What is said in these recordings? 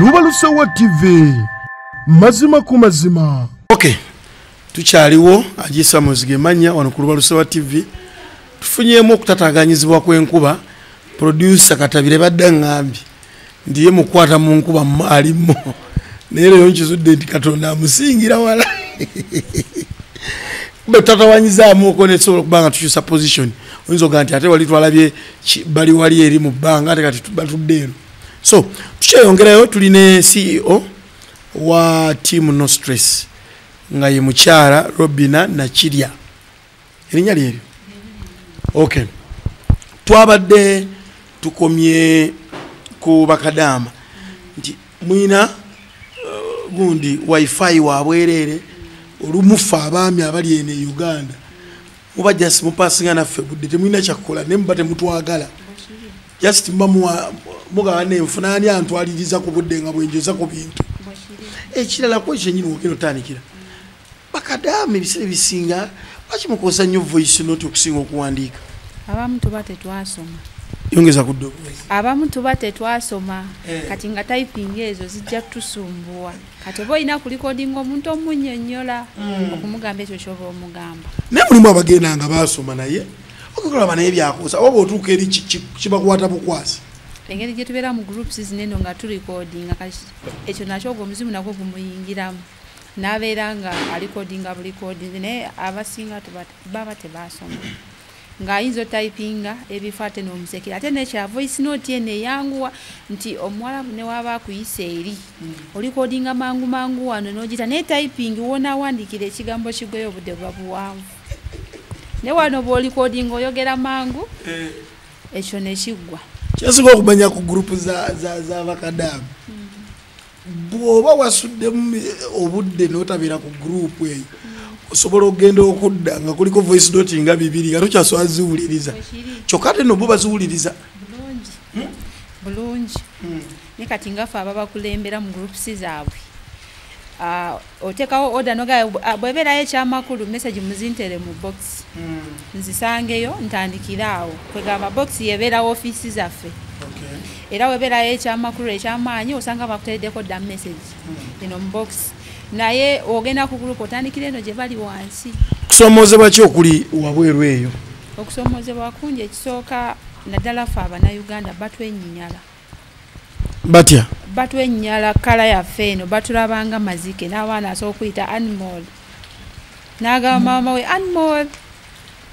luba lusowa tv mazima ku mazima okay tukyaliwo ajisa muzige manya wano ku luba lusowa tv tufunyemu okutataganyizibwa kwenkuba producer katabire badde ngambye ndiye mukwata mu nkuba alimu naye leero nkizudde nti katonda amusingira wala bwe tutatawanyizaamuko nesobola okuba nga tukyusa position oyinza oga nti ate wali twalabye bali wali eri mu bbanga ate kati batudde eno so tukyeyongerayo tuli ne ceo wa team no stress nga ye mukyala robina nakirya erinnya lyeryo okay twabadde tukomye ku bakadaama nti mwina uh, gundi wifi wabwereere olumufa abaami abali eno e uganda muba just mupasinga naffe budde temulina kyakukola naye muba temutwagala just mba mugaba nenfuna ani antwaliriza ku budde nga bwenjoza ku bintu ekirala kwe kyenyini wogera otandikira bakadaama ebiseera ebisinga lwaki mukozesa nnyo voice not okusinga okuwandiika abamu tuba tetwasoma yongeza ku abamu tuba tetwasoma eh. kati nga typing ezo zijja tusumbuwa kati oba olina kulikodinga omuntu omunyonyola hmm. okumugamba ekyo kyoba omugamba naye mulimu abagenda nga basoma naye okolaba naye byakuusa oba bwotuuka eri kibakwata bukwasi engeri gyetubeera mu groups zineno nga tulikodinga kati ekyo nakyo ogwo omuzimu nagwo gumuyingiramu nabeera nga alikodinga bulikodingi naye abasinga baba tebasoma nga ayinza otypinga ebifo ate nomusekera ate nekya voice note eno eyanguwa nti omuwalabu newaba akuyisa eri mm. olikodinga mangu mangu wano nogita naye typing wonawandikira ekigambo kigweyo obudde buba buwanvu ne wano bwolikodinga oyogera mangu eh. ekyo nekiggwa kyasinga okumanya ku gurupu zabakadamu mm. bw'oba wasuddemu obudde n'otabeera ku guruupu eyo osobola okugenda okudda nga kuliko voice doti nga bibiri nga tokyasobola ziwuliriza kyokka ate nobo baziwuliriza bulungi hmm. ne kati ngafe ababakulembera mu groups zaabwe ah, otekawo order noga bweberayo ekyamakulu message muzintere mu box mm. nzisangeyo ntandikire awo kwegamba box yeberawo ofisi zaffe okay. era weberayo ekyamakulu ekyamaanyi osanga bakuteredeko da message mm. ino mu box naye ogenda ku group otandikire eno gye bali wansi kusomozebwa ki okuli wabweru eyo okusomozebwa kungi ekisooka naddala fe abanauganda batwenyinyala batya batwenyala kala yaffe eno batulabanga mazike n'abaana asobola okuyita animal n'agamba mm. maama we animal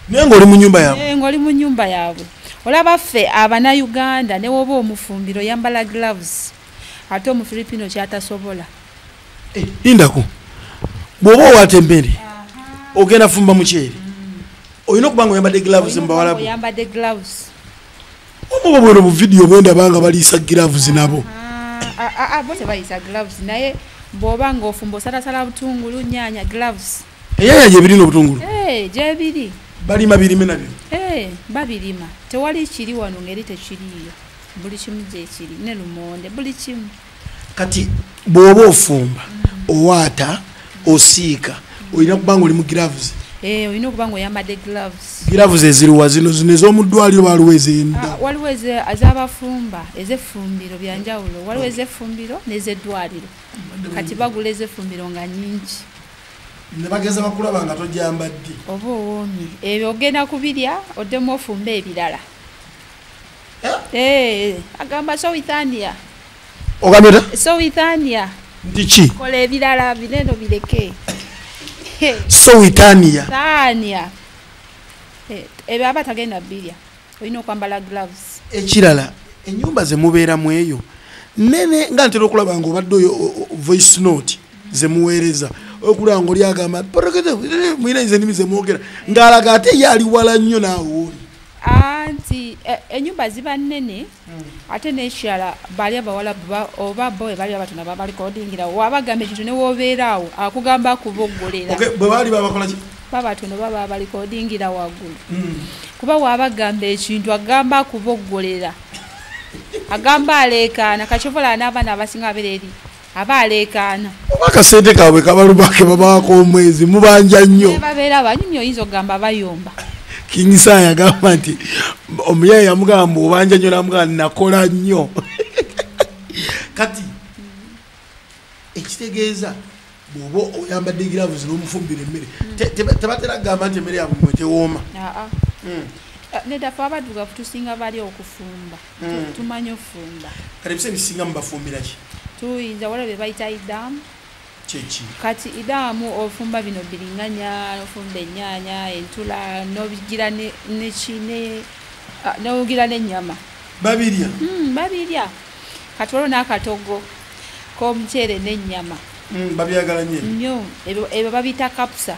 naye ngaoli mu nyumba yabwe eh, ngaoli mu nyumba yabwe olaba ffe abanauganda newoba omufumbiro yambala gloves ate omufilipino kyatasobola eh, lindako bwoba owata emmere ogenda fumba mukyeri mm. olina okuba nga oyambadde gloves mubawalabu oyambadde gloves obubwero bu video bwenda banga balisa gloves nabo a ah, a ah, ah, bote balisa gloves naye boba ngofumbo sala sala butungulu nyanya gloves eyaya je bilino butungulu eh je bili bali mabili mena bi eh babilima tewali kiri wano ngeri te kiriyo buli kimu je kiri ne lumonde buli kimu kati bwoba ofumba owaata osiika olina kubanga oli mu gloves eh, olina okuba nga oyambadde gloves gloves eziriwa zino zino ez'omuddwaliro waliwo ezenda ah, waliwo ezabafumba ezeffumbiro byanjawulo waliwo ezeffumbiro n'ezeddwaliro kati bagula ezeffumbiro nga nyingi nebageza bakulaba nga tojambadde oba owoomye ebyo ogenda kubirya oddemu ofumba ebirala Eh, agamba sowithania ogambeta sowithania ndiki kola ebirala bineno bireke sowithania thania eh, ebyo aba tagenda birya olina okwambala gloves ekirala enyumba zemubeeramu eyo nene nga ntera okulaba nga obadde oyo voice note zemuweereza okulaba nga oli agamba mwina nze nimi zemwogera ng'alaga ate ye ali wala nnyo naawe oli anti e, enyumba ziba nene hmm. ate nekirala bali abawala oba bo ebali abatona babalikodingira wabagamba ekintu newobeeraawo akugamba kubogolera bwebaali babakolaki babatono baba abalikodingira waggulu hmm. kuba wabagamba ekintu agamba kubogolera agamba aleekaana kakyovola n'abaana abasinga abereeri aba aleekaana oba akasente kaabwe kabaluma ke babaako omwezi mubanja nnyo babeera banyumya oyinza okugamba bayomba kingisa yagamba nti omuyaye yamugamba obanja nnyo namugamba nakola nnyo kati ekitegeeza bwoba oyambadde egiravu zino omufumbira emmere tebatera kugamba nti emmere yabwe mwetewooma ah, ah. Hmm. Eh, nedafe abadugavu tusinga bali okufumba hmm. tumanyi ofumba kati ebisa ebisinga mubafumbira ki tuyinza wala bye bayita idamu kyeki kati idamu ofumba bino biringanya ofumba enyanya entula nobigira nekine ah, nogira nenyama babirya hmm, babirya kati waliwo nakatogo komuceere nenyama hmm, babyagala nyo ebyo babiyita kapusa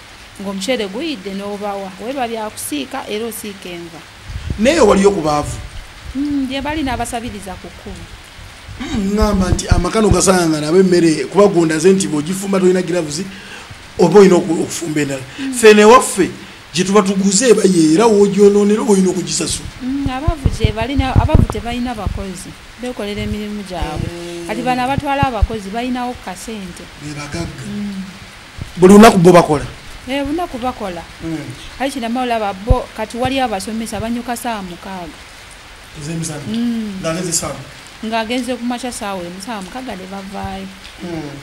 ng'omuceere guyidde n'obawa weba byakusiika era osiika enva naye waliyo ku baavu hmm, gye bali n'abasabiriza ku kkubo hmm, ŋamba nti amakano gasangangana abo emmere kuba gondaze nti bwogifumba tolina giravuzi oba olina okufumba endala hmm. fe newaffe gye tuba tuguze eba yeera wogyonoonera oba olina okugisasula abavu gyebalinabavu tebalina bakozi bekolera emirimu gyabwe kati bano abatwala abakozi balinawo ku kasente bebagagga buli lunaku bo bakola eh, lunaku bakola hmm. aye kinama olaba bo kati waliyo abasomesa banyuka saawa mukaaga hmm. ng'agenze ku makya saawa emu saawa mukaaga ne bavaayo hmm.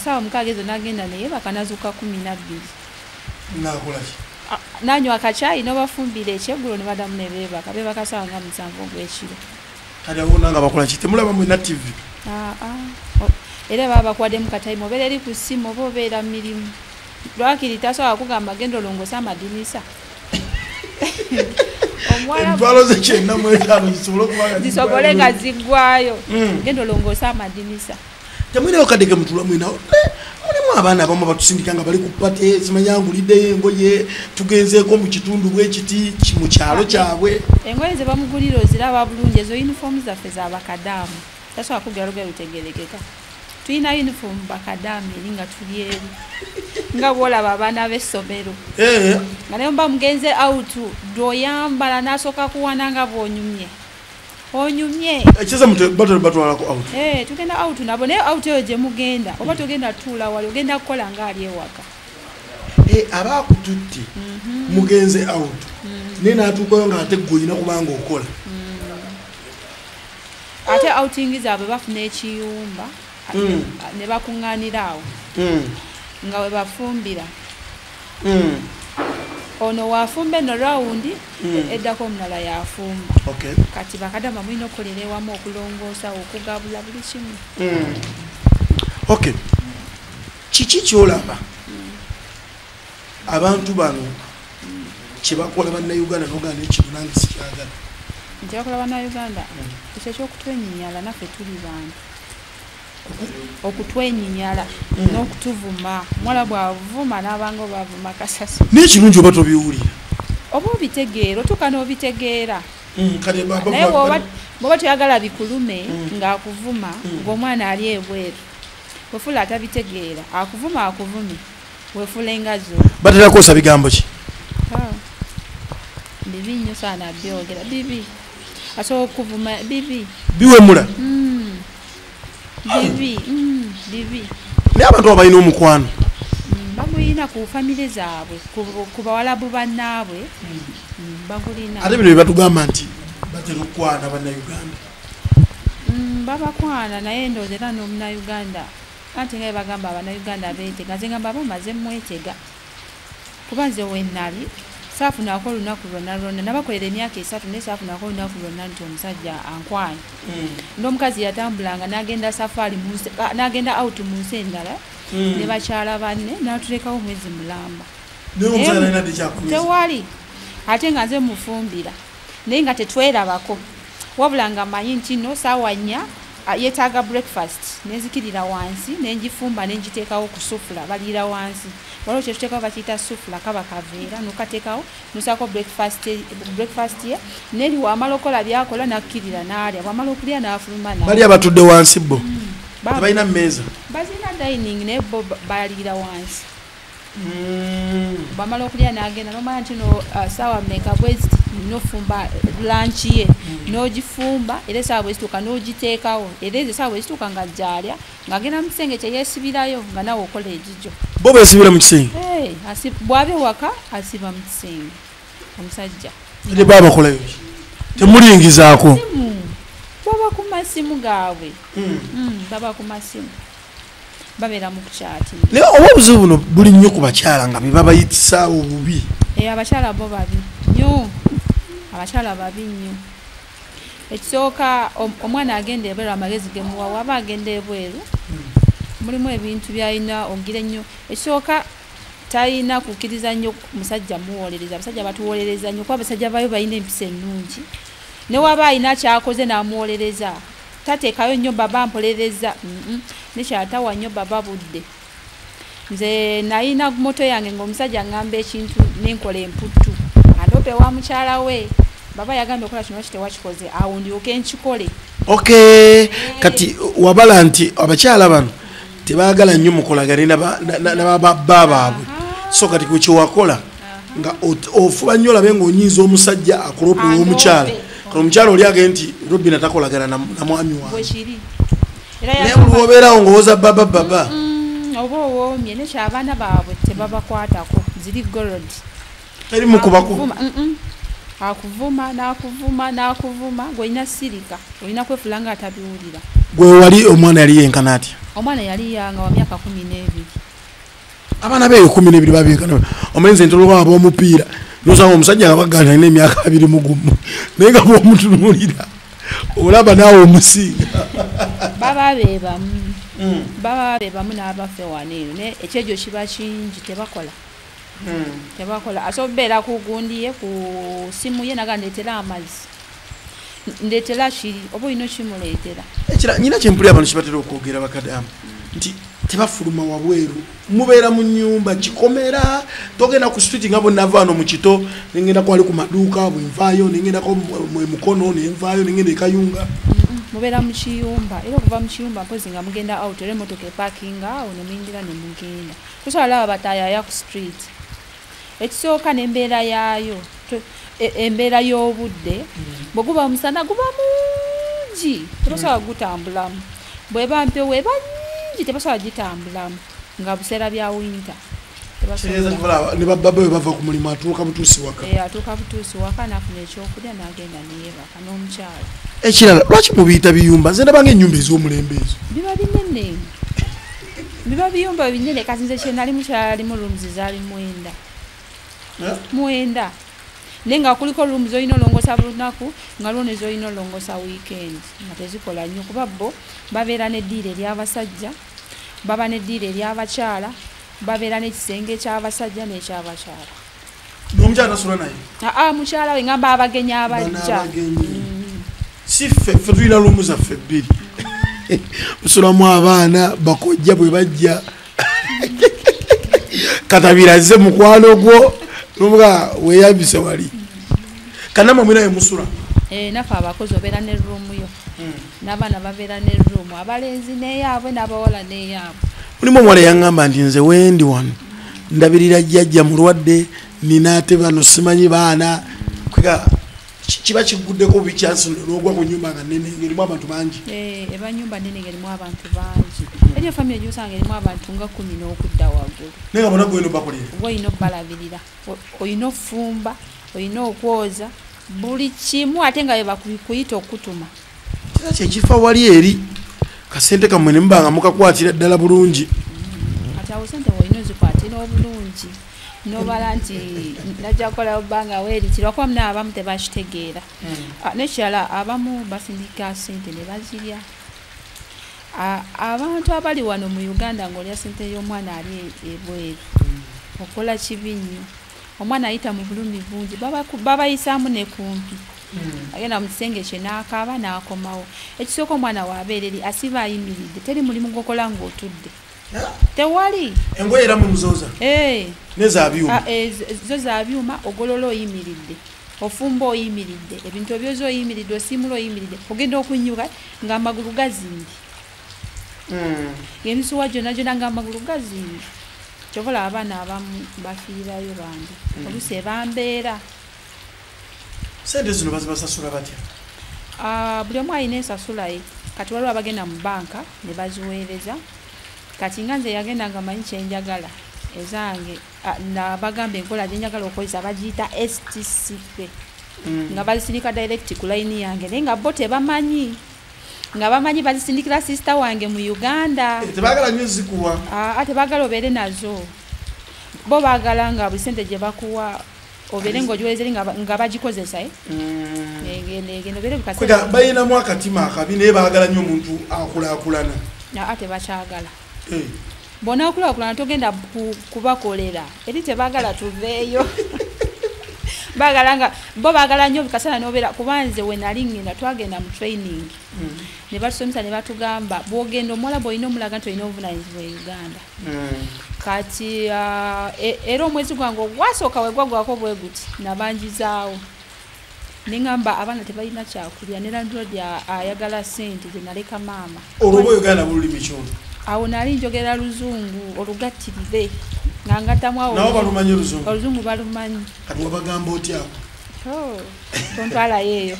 saawa mukaaga ezo nagenda naye bakanazuka kumi nabbiri nanywa akakyayi nobafumbira ekyeggulo ne badamu ne beebaka beebaka saawa nga musanvu ogw'ekiro kale awo nanga bakola ki temulaba mwena tv ah, ah. era baba bakwademu kataimu obeera eri ku ssimu oba obeera mu mirimu lwakiri tasobola kugamba genda olongosa amadinisa entwalo zekyenna mwetaano zisobole okuba zisobole nga ziggwayo hmm. genda olongosa amadinisa mm. temwinayo kadege mutula mwinawo eh, mulimu abaana abamu batusindika nga bali ku pate zimanya nguliddeyo engoye tugenzeeko mu kitundu bwekiti mu kyalo kyabwe engoye ze bamugulira oziraba bulungi ezo yunifoomu zaffe za bakadaamu tasobola kugera lugero lutegerekeka tulina yunifoomu bakadaamu eri nga tuli eri nga bwolaba abaana b'essomero eh. nga naye mba mugenze awutu dwoyambala n'asooka kuwana nga bwonyumye onyumye ekiza mute battle batwala ko out eh tugenda out nabo ne out yo je mugenda oba tugenda tula wali ogenda kola ngali ewaka eh aba kututti mhm. mugenze out mhm. nina atukoyo nga ate goyina kubanga okola mhm. ate outing zabwe bafuna ekiyumba mm. ne bakuŋŋaanira awo mm. nga we bafumbira mm. ono wafumba eno rawundi mm. eddako omulala yafumba okay. kati bakadama mulina okukolera ewamu okulongoosa okugabula buli kimu mm. okay kiki kyolaba mm. abantu bano kyebakola bannauganda noganda ekino nange sikyagala kyebakola bannauganda ekyo ekyokutwenyinyala naffe tuli bantu okutwenyinyala mm. n'okutuvuma mwala bwavuma n'abanga obavuma kasasi naye kirungi oba tobiwulira oba obitegeera otuuka n'obitegeera mm, naye bwoba toyagala bikulume mm. ng'akuvuma ng'omwana ali ebweru wefuula atabitegeera akuvuma akuvume batera kukozesa bigambo ki ah. bibi nyo sana byogera bibi asobola okuvuma bibi biwemula hmm. bibi hmm, bibi naye abantu aba balina omukwano hmm, bagulina ku famire zaabwe ku bawalabu bannaabwe bagulina ate bino byebatugamba nti batera okukwana bannauganda babakwana naye ndooza era nomunauganda anti nga bebagamba abanauganda betega nze ngamba aba maze mwetega kuba nze wenali saafunako olunaku lwonna lwonna nabakolera emyaka esatu naye saafunako olunaku lwonna nti omusajja ankwana mm. nomukazi yatambulanga nagenda safaari nagenda out mu nsi endala mm. ne bakyala banne natulekawo omwezi mulamba tewali ate nga nze mufumbira naye nga tetwerabako wabula nga manyi nti no saawa nnya yetaaga breakfast nenzikirira wansi nenjifumba nenjiteekawo ku sufula baliira wansi waliwo kyetuteekawo bakiyita sufula kaba kaveera nukateekawo nusaako breakfast ye neri wamala okola byakola nakkirira naalya bwamala okulya nafuluma bali abatudde wansi bo hmm. tebalina mumeeza bazina dining naye bo baliira wansi Mm. bwamala okulya nagenda nomanya ntino uh, saawa meka bweziti nofumba lanki ye mm. nogifumba era esaawa bwezituuka nogiteekawo era ezo esaawa bwezituuka nga gyalya ngaagenda mu kisenge kyeyesibirayo nga nawe okola egijo bo besibira mu kisenge bwaba ewaka asiba mu kisenge omusajja ne babakolayo temulingizaako baba ku masimu gaabwe mm. baba ku masimu babera mu kukyati naye oba obuzibu buno buli nnyo ku bakyala nga bebabayitisaawo obubi eh, abakyala bo babi nyo abakyala babi nnyo ekisooka omwana agenda ebweru amagezi gemuwa waba agenda ebweru mulimu ebintu byalina ogira ennyo ekisooka talina kukkiriza nnyo musajja muwolereza abasajja batuwolereza nnyo kuba abasajja bayo balina empisa ennungi newaba alina kyakoze namuwolereza tatekayo nnyo baba mpolereza nekyatawa nnyo baba budde nze nayina moto yange ngaomusajja ngamba ekintu nenkola emputtu andope wa mukyala we baba yagambye okola kino kitewakikoze awo ndyoke nkikole ok kati wabala nti abakyala bano tebagala nnyo mukolagane nababba baabwe so kati ku kyewakola nga ofuba nnyo olabe ngaonyinza omusajja akulopa owomukyala kati omukyala oli age nti robina takolagana na mwami wange naye buli wobeerawo ngaowoza baba baba oba owoomye nekyo abaana baabwe tebabakwatako ziri gorod teri mukubakuvuma akuvuma nakuvuma nakuvuma gweolina sirika olina kwefula nga atabiwulira gwewali omwana yali yenkana atya omwana yali yanga wa myaka kumi nebiri abaana beyo kumi nebiri babenkana omenze ntoloba abomupiira nosanga omusajja nga bagana alina emyaka abiri mugumu naye nga bomutunulira olaba naawe omusinga baba bebamu hmm. baba bebamu n'abafe waneeno naye ekyejo kiba kingi tebakola hmm. tebakola asobola okubeera ku gundi ye ku simu ye naga ndeetera amazzi ndeetera kiri oba olina okimuleetera ekira nyina kyempulira abantu kibatera okwogera bakadamu nti tebafuluma wabweru mubeera mu nyumba kikomera togenda ku street nga bwenavaano mu kito nengenda kwali ku maduuka bwenvaayo nengendako mukono nenvaayo nengenda ekayunga mubeera mu kiyumba era okuva mu kiyumba mpozi nga mugenda out era emotoka epakinga awo nemuyingira nemugenda tusobola laba batayaya ku street ekisooka nembeera yaayo e, embeera y'obudde mm. bwe guba omusana guba mungi tebasobola gutambulamu bweba mpewo eba nyingi tebasobola gitambulamu nga buseera bya winta nebababa bwe bava ku mulimu atuuka butuusi waka eh, atuuka butuusi waka nafuna ekyokulya nagenda neyebaka ekirala lwaki mubiyita biyumba nze ndabanga enyumba ez'omulembe ezo biba binene biba biyumba binene kati nze kyenali mukyalalimu rooms zali mwenda eh? mwenda naye nga kuliko room zolina olongosa bulunaku nga lwone zolina olongosa weekend nga tezikola nnyo kuba bo babeera nediira eryabasajja baba nediira eryabakyala babeera nekisenge ekyabasajja nekyabakyala nomukyala tasula naye aa ah, ah, mukyala we ngamba abagenyi abajja mm. si ffe ffe tulina lumu zaffe ebbiri musulamu abaana bakojja bwe bajja katabiraze mukwano gwo nomuga weyambise wali kanama mwinaye musula eh, nafe abakozi obeera ne rumu yo hmm. nabaana babeera ne rumu abalenzi neyaabwe nabawala neyaabwe mulimu omuwala yaŋamba nti nze wendi wano ndabirira jjajja mulwadde nina ate bano simanyi baana kwega kiba kiguddeko bikyansi nogwa ku nyumba nga nene ngerimu abantu bangi eh, eba nyumba nene ngerimu abantu bangi eriyo famiry gyosanga erimu abantu nga kumi n'okudda waggulu naye nga bona gwolina obakolera oba olina obalabirira olina ofumba olina okwoza buli kimu ate nga bebakuyita okutuma kira kyekifa wali eri kasente kamwe ne mubanga mukakwatira ddala bulungi kati awo sente wolina ozikwatira obulungi nobala nti najja kukola obanga weerikira wakuba muna abamu tebakitegeera hmm. ah, nekirala abamu basindika sente ne bazirya ah, abantu abali wano mu uganda ngaolya sente y'omwana ali ebweru hmm. okola kibi nnyo omwana ayita mu bulumi bungi babayisaamu ne kumpi hmm. agenda mu kisenge kye n'akaaba n'akomawo ekisooka omwana waabeera eri asiba ayimiridde teri mulimu gwokola ng'otudde tewali engoye era mumuzooza eh. nezabyuma ah, eh, zo zabyuma ogolola oyimiridde ofumba oyimiridde ebintu ebyoza oyimiridde osiimula oyimiridde ogenda okunyuka ng'amagulu gazimbye mm. emisuwa gyona gyona nga amagulu gazimbi kyobola abaana abamu bafiirayo bambi mm. olusi ebambeera sente zino bazibasasula batya ah, buli omu alina esasulaye kati waliwo abagenda mu banka ne baziweereza kati nga nze yagenda nga manyi kyenjagala ezange ah, nabagamba enkola gyenjagala okozesa bagiyita stcp mm. nga bazisinika direct ku layini yange naye nga bo tebamanyi nga bamanyi bazisindikira sisita wange mu uganda eh, tebagala nyo zikuwa aa ah, ah, tebagala obeere nazo bo bagala nga buli sente gye bakuwa obeere ngaogiwezeri nga bagikozesa eh? mm. eh, bayinamu akatima akabi naye bagala nyo omuntu akulakulana aa ah, tebakyagala eh. bwonaakulakulana togenda kubakolera eri tebagala tuveeyo bagala nga bo bagala nyo kasana nobera kubanze wenali ngenda twagenda mu training mm. ne batusomesa ne batugamba bwogenda omuwala bwolina omulaga nti olina obuvunanyizibwa e uganda mm. kati uh, e, era omwezi gwange ogwasooka wegwagwako bweguti nabanjizaawo nengamba abaana tebalina kyakulya ne landlord ayagala sente zenaleka maama olwoba oyogera nabo olulimi kyona awo nali njogera luzungu olugattirire nga ngatamu awobalumanyi oluzungu oluzungu balumanyi kati wabagamba otyako oh, tontwalayo eyo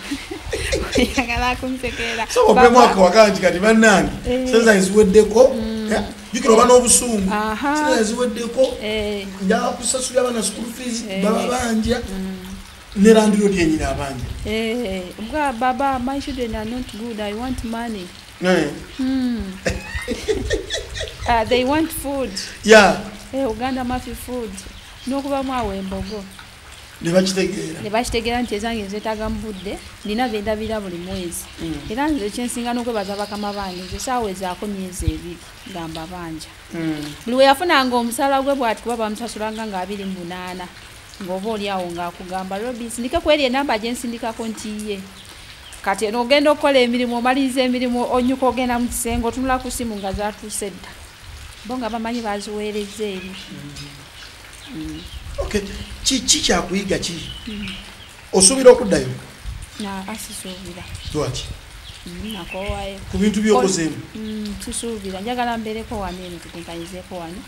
yagala akunsekera omwaka wagangi kati bannange eh. senza eziweddeko mm. eh, jukira oba n'obusungu senza eziweddeko eh. njakusasulira abana school fees baba banja mm. ne landiroodi yenyini abanja eh, nga baba my children are not good i want money eh. hmm. ah, they want food ya eh, uganda mafi food nokubamu awo embogo nebakitegeera nti ezange nzetaga mu budde nina bendabira buli mwezi hmm. era nze kyensinga nokwebaza bakama bange nze saawa ezaako myezi ebiri gamba banja hmm. buli weyafunanga omusala gwe bwati kuba bamusasulanga nga abiri munaana ng'oba oli awo ng'akugamba robi nsindike ku eri enamba gye nsindikako nti ye kati eno ogenda okukola emirimu omaliriza emirimu onyuka ogenda mu kisenge otunula ku simu nga zatuuse dda bo nga bamanyi baziweereza eri mm. kiki kyakuyiga ki mm. osuubira okuddayo asisuubira lwaki nakowayo ku bintu byokozeemu mm, tusuubira njagala mbeereko wano eno tukunkanyizeeko wano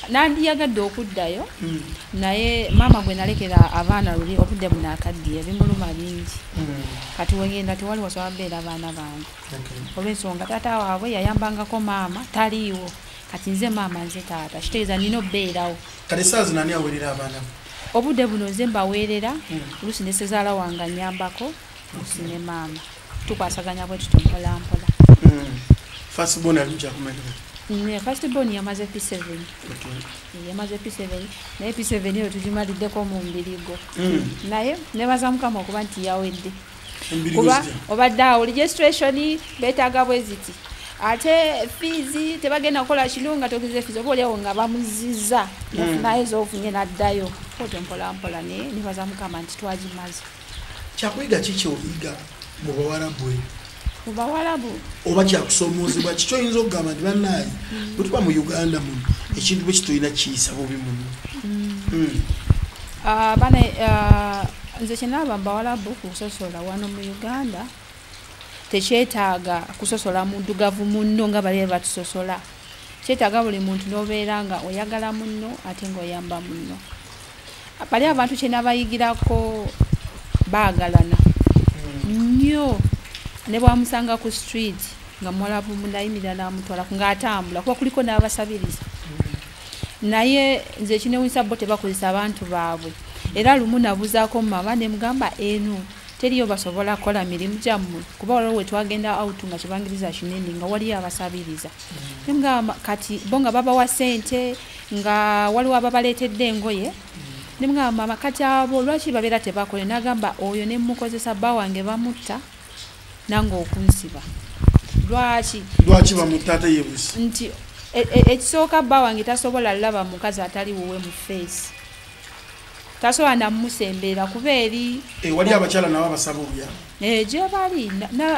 nandiyagadde okuddayo mm. naye maama gwe nalekera abaana luli obudde bunakaddiye bimuluma bingi mm. kati wegenda tewali wasobola beera abaana bange olwensonga taata waabwe yayambangako maama taliiwo kati nze maama nze taata kitegeeza nina obeerawo kati saazi nani awerera abaana obudde buno nze mbaweerera oluusi ne sezaala wange anyambako oluusi ne maama tukwasaganya bwe tuto mpolampola hmm. fastbon alujakumalira mm, fastbon yamaze p seven yamaze p seven naye p seven eyo tugimaliddeko mu mbirigo hmm. naye nebaza mukama okuba nti yawedde kuba obadde awo registration betaaga bweziti ate fiizi tebagenda kukola kino nga togeze fiizi oba oliawo nga bamuziza nafunayo hmm. zofunye naddayo oto mpolampola naye nibaza mukama nti twagimaze kyakuyiga kiki oyiga mu bawarabu eyo mu bawarabu oba kyakusoomoozebwa kiki oyinza okugamba nti banaye hmm. bwetuba mu uganda muno ekintu bwe kitulina kiyisa bubi muno hmm. ah, bana ah, nze kyenalaba bawalabu kusosola wano mu uganda tekyetaaga kusosola mudugavu munno nga bali batusosola kyetaaga buli muntu nobeera nga oyagala munno ate nga oyamba munno bali abantu kyenabayigirako baagalana nnyo ne bwamusanga ku street nga muwalabu munayimirira namutwala nga atambula kuba kuliko n'abasabiriza naye nze ekinewunyisa bo tebakozesa abantu baabwe era lumu nabuzaako mumama nemugamba eno teriyo basobola kukola mirimu gyammwe kuba waliwo wetwagenda out nga kibangiriza kinene nga waliyo abasabiriza nemugamba kati bo nga babawa sente nga waliwo ababaleetedde engoye nemugamba mama kati abo lwaki babeera tebakole nagamba oyo nemukozesa bba wange bamutta nange okunsiba lwaki lwaki bamutaata yebusi nti e, e, ekisooka bba wange tasobola laba mukazi atali wuwe mu feesi tasobola namusembeera kuba eri eh, wali abakyala nabo abasaba obuyamba eh, gyebali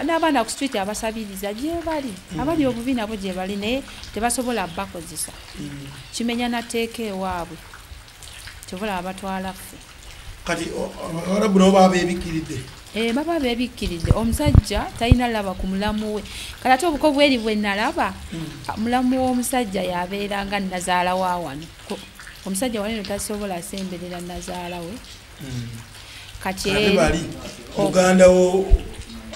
n'abaana ku street abasabiriza gyebali hmm. abali obubi nabo gyebali naye tebasobola bakozesa hmm. kimenya nateeka ewaabwe kyobola abatwala ffe kati abawarabu nabo baba bebikkiridde eh, baba bebikkiridde omusajja talina laba ku mulamu we kati ate obuko bweri bwe nalaba hmm. ah, mulamu w'omusajja yabeera nga nazaala wa wano omusajja waneno tasobola asemberera nazaala we hmm. kati muganda wo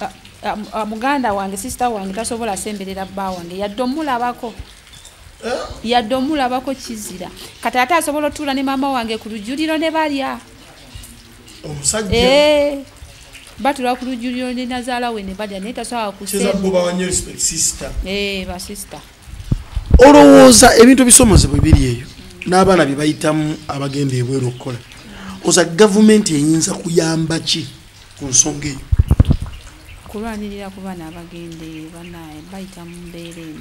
ah, ah, muganda wange sisita wange tasobola asemberera bba wange yadde omulabako eh? yadde omulabako kizira kati ate asobola otuula ne maama wange ku lujuliro ne balya omusajja eh, batula ku lujuliro ne nazaala we ne balya naye tasobola kuseebasista eh, olowooza ebintu ebisomozebwa ebiri eyo n'abaana bye bayitamu abagenda ebweru okukola oza gavumenti eyinza kuyamba ki ku nsonga eyo kulwanirira ku baana abagenda eyo banaye bayita mu mbeera eno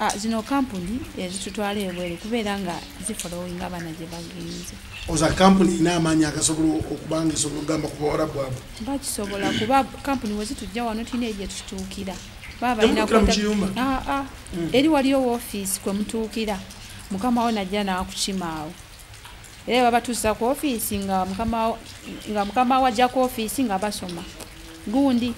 ah, zino kampuni ezitutwala ebweru kubeera nga zifolowing abaana gye bagenze oza kampuni ina amaanyi agasobola okubanga esobola okugamba ku bawala bwabwe bakisobola kuba kampuni wezitujja wano tulina egye tutuukira baba balina ah, ah. mm. eri waliyo wofiisi kwe mutuukira mukama wo najja naakukimaawo era babatuusa ku ofiisi nga mukama wajja ku ofiisi nga basoma gundi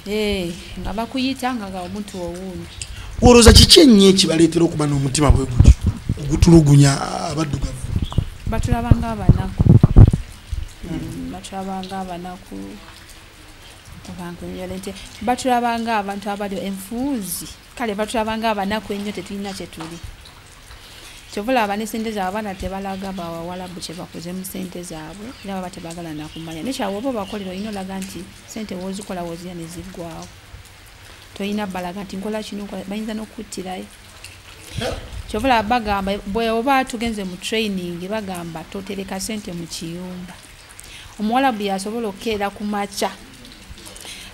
eh, nga bakuyita nga nga omuntu owuundi wolowooza kiki ennyo ekibaleetera okuba n'omutima bwe gutyo ogutulugunya abaddugavu batulaba nga abanaku hmm, batulaba nga abanaku abantu batulaba nga abantu abali enfuuzi kale batulabanga abanaku ennyo tetulina kyetuli kyovola aba nesente zaabwe abaana tebalaga bawawalabu kyebakoze mu sente zaabwe era baba tebagala nakumanya nekyawe oba obakolera olina olaga nti sente wozikola wozirya nezigwawo tolina balaga nti nkola kino bayinza nokukuttirayo kyovola bagamba bweoba tugenze mu training bagamba totereka sente mu kiyumba omuwalabu yasobola okukeera ku makya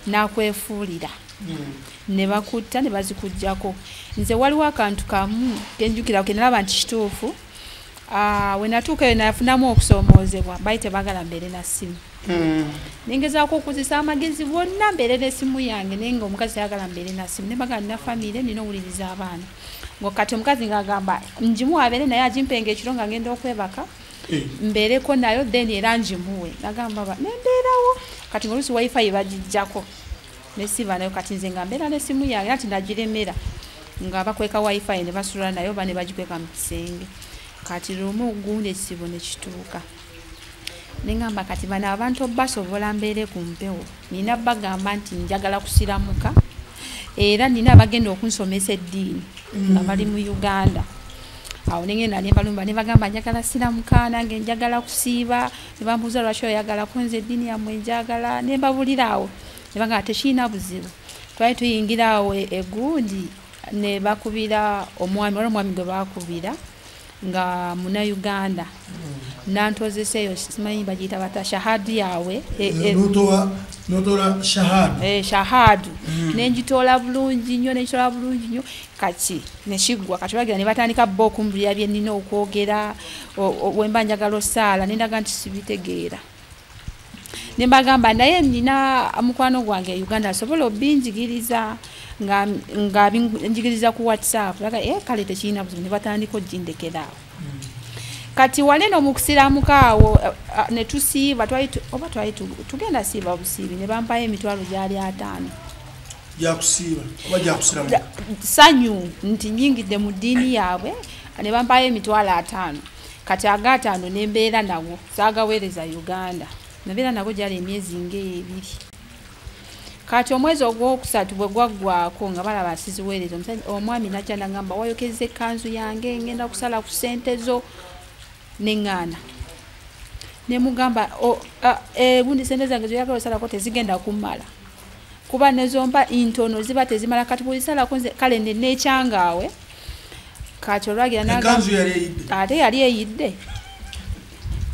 n'akwefuulira hmm. ne bakutta ne bazikugyako nze waliwo akantu kamu kenjukira kenalaba nti kituufu ah, we natuuka eyo nafunamu okusoomoozebwa bali tebagala mbeere na ssimu hmm. nengezaako okuzisa amagezi gonna mbeere n'essimu yange naye nga omukazi tayagala mbeere na ssimu ne bagala nina famiire nina owuliriza abaana ngakati omukazi ngaagamba njimu abeere naye agimpenga ekiro nga ngenda okwebaka eh. mbeereko nayo then era njimuwe nagamba ba nembeerawo kati mulusi wifi bagijjako nesiba nayo kati nze nga mbeera nesimu yange ati nagiremera nga bakweka wifi ne basula nayo oba ne bagikweka mu kisenge kati lumu gundi ekizibu ne kituuka nengamba kati bano abantu basobola mbeere ku mpewo nina bagamba nti njagala kusiramuka era nina abagenda okunsomesa eddiini nga mm. bali mu uganda awo nengenda nembalumba nebagamba njagala siramuka nange njagala kusiiba nebambuuza lwaki oyagala kunza eddiini yamwe njagala nembabulira awo nebagamba tekirina buzibu twali tuyingira awo egundi nebakubira omwami wali omwami gwe bakubira nga muna uganda nantozesa eyo simanyi bagiyita bata shahadu yawe e, e, eh, eh, shahadu hmm. nenjitoola bulungi nnyo nenjitoola bulungi nnyo kati nekiggwa kati bagira ne batandika bo okumbulira byenina okwogera wemba njagala osaala nendaga nti sibitegeera ne mbagamba naye nina mukwano gwange e uganda asobola obinjigiriza nga nga njigiriza ku whatsapp aga eh kale tekiyina buzibu ne batandika ojindekeraawo hmm. kati wale no mukusiramuka awo eh, eh, ne tusiiba twali oba twali tugenda siiba busiibi ne bampayo emitwalo gyali ataano gyakusiiba oba gyakusiramuka sanyu nti nyingidde mu ddiini yaabwe ne bampayo emitwalo ataano kati agaataano nembeera nago zagaweereza uganda nabeera nago gyali emyezi ngaebiri kati omwezi ogwokusatu bwe gwaggwako nga balaba siziweereza omwami najja nagamba wayokezza ekkanzu yange ngenda kusala ku sente zo neŋŋaana nemugamba egundi sente zange zoyagala osalako tezigenda kummala kuba nezomba intono ziba tezimala kati bwezisalako nze kale nenekyangaawe kati olwagira ate yali eyidde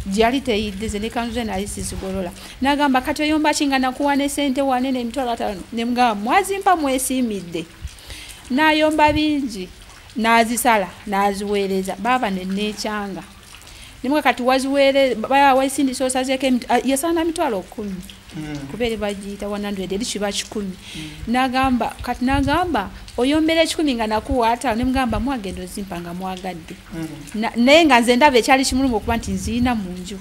gyali teyiddize ne kanzu ze nali sizigolola nagamba kati oyomba kinga nakuwa ne sente wane nemitwalo atano nemugamba mwazimpa mwesiimidde nayomba bingi nazisala naziweereza baaba neneekyanga nimwe kati waziwere waisindisa osazeko yasana mitwalo kumi hmm. kubere bajita 100 eri kiba kikumi hmm. nagamba kati nagamba oyombera ekikumi nga nakuwata nemugamba mwagenda ozimpa nga mwagadde hmm. naye nga nze ndaba ekyali kimulungu okuba nti nziina mu nju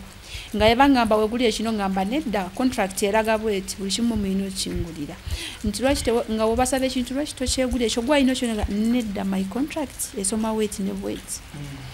nga yabangamba weguli ekino ngamba nedda contract eraga bweti buli kimu muyina okingulira nti lwaki nga wobasaba ekintu lwaki tokyegulira ekyo gwayina okyona nedda my contract esoma weti ne bweti mm.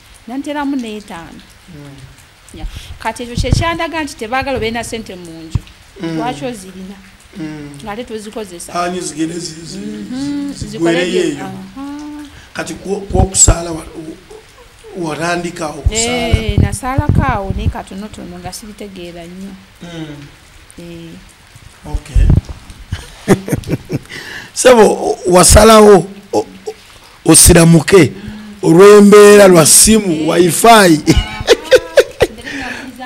nanteramu n'etaano hmm. kati ekyo kyekyandaga nti tebaagala obeerina sente mu nju hmm. lwaki ozirina hmm. ngaate tuzikozesazikoleyeyoo mhm, kati kwokusaala watandikawo eh, nasaalako awo naye katonotono nga sibitegeera nnyo eh. sebo wasalawo osiramuke olwembeera lwa simu wifi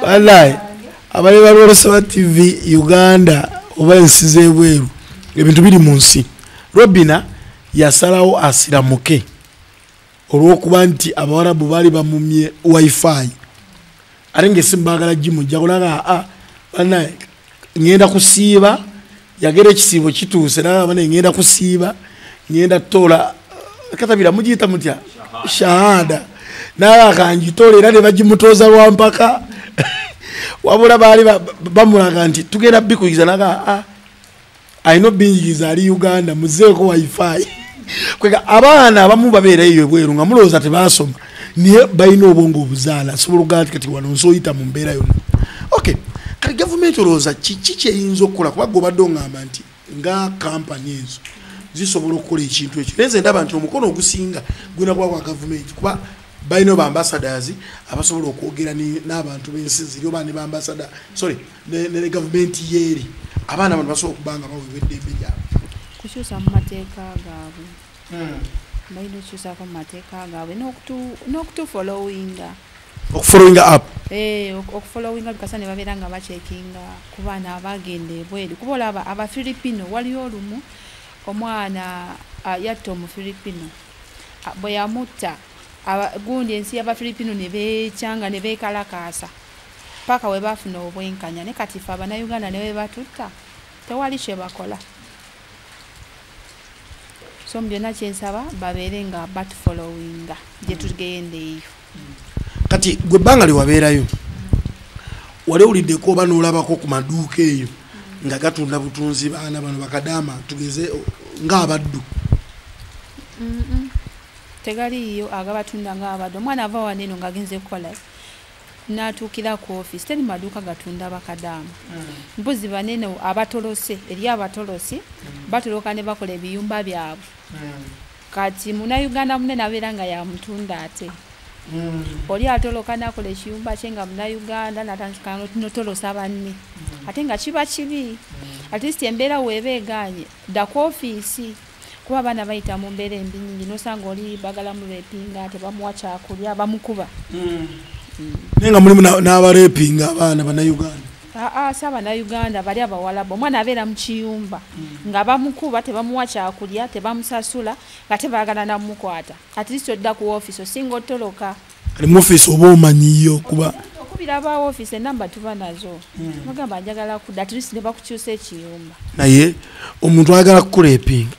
walayi abali balwolesaba tv uganda oba ensi zebweru ebintu biri mu nsi robina yasalawo asiramuke olwokuba nti abawarabu baali bamumye wifi ate ngaesimu bagala gimujja kulaga aa ah, banaye ngenda kusiiba yagera ekisiibo kituuse naga banaye ngenda kusiiba ngenda tola katabira mugiyita mutya shahada naye akanjitola era ne bagimutoza lwampaka wabula baali bamulaga nti tugenda bikuyiza naga aa ah, alina obinjiriza ali uganda muzeeko wifi kwega abaana abamu babeera eyo ebweru nga mulowooza tebaasoma naye balina obwongo obuzaala asobola okugaa nti kati wano nsi oyita mu mbeera yonna ok kati gavumenti olowooza kiki kyeyinza okukola kuba gwe obadde ongamba nti nga kampani ezo zisobola okukola ekintu ekyo naye nze ndaba nti omukono ogusinga gulina kuba gwa gavumenti kuba balina obambasadasi abasobola okwogera n'abantu b'ensi ziri oba ne bambasada sorry ne gavumenti yeeri abaana bano basobola okuba nga baweebwa eddembe lyabwe kukyusa mu mateeka gaabwe hmm. balina okukyusako mu mateeka gaabwe n'okutufolowinga okufolowinga app eh, okufolowinga bikasa ne babeera nga bakyekinga ku baana abagenda ebweru kuba olaba abafilipino waliyo olumu omwana ah, yatta omufilipino ah, bwe yamutta gundi ensi y'abafilipino ne beekyanga ne beekalakaasa paka webafuna obwenkanya ne kati fe abanauganda newebatutta tewali kyebakola so mubyonna kyensaba babeere nga batfolowinga gyetugenda eyo kati gwe ebbanga lyewabeerayo wali owuliddeko oba nolabako ku maduuka eyo nga gatunda butunzi baana bano bakadaama tugeze ngaabaddu tegaliiyo agabatunda ngaabaddu omwana ava waneno nga agenze kukola natuukira ku office teri maduuka gatunda bakadaama hmm. mbuzi banene abatolose eri abatolosi hmm. batoloka ne bakola ebiyumba byabwe hmm. kati munauganda munene abeera nga yamutunda ate oli atoloka nakola ekiyumba kye nga munauganda natandiknotolosa banne ate nga kiba kibi atleast embeera weeba eganye daku ofiisi kuba abaana bayita mu mbeera embi nyingi nosanga oli bagala murepinga tebamuwa kyakulya bamukuba mm. Mm. naye nga mulimu n'abarepinga abaana banauganda aa ah, ah, si abanauganda bali abawalabu omwana abeera mu kiyumba mm. nga bamukuba tebamuwa kyakulya tebamusasula nga tebagala namukwata at least odda ku ofiisi osinga otoloka ali mu office oba omanyiyo kuba okubira ba office enamba tuba nazo hmm. mugamba njagala ku at least ne bakukyusa ekiyumba naye omuntu ayagala kukulepinga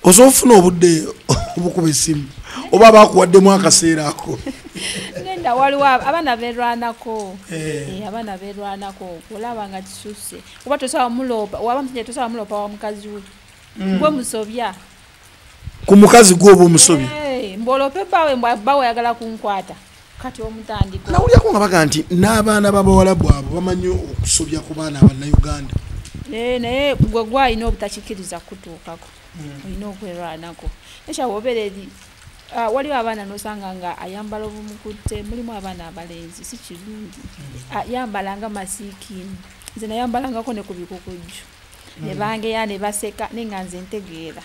osobola ofuna obudde obukuba esimu oba bakuwaddemu akaseera ako nenda waliwo abaana berwanako eh. Eh, abaana berwanako olaba nga kisuse kuba tosobola muloopa waba musajja tosobola muloopa wa mukazi we hmm. gwe musobya ku mukazi gwe oba omusobya mbolope bawe bawe oyagala kunkwata kati omutandiko nawulyako nga baga nti n'abaana babawalabu abo bamanyi okusobya ku baana abanauganda eh, naye gwe gwalina obutakikiriza kutuukako hmm. olina okwerwanako nekyawa obeera eri ah, waliwo abaana nosanga nga ayambala obumukutte mulimu abaana abalenzi si kirungi hmm. ah, yambala nga masiikiini nze nayambalangako ne ku bikukujju ne mm. bangeya ne baseka naye nga nze ntegeera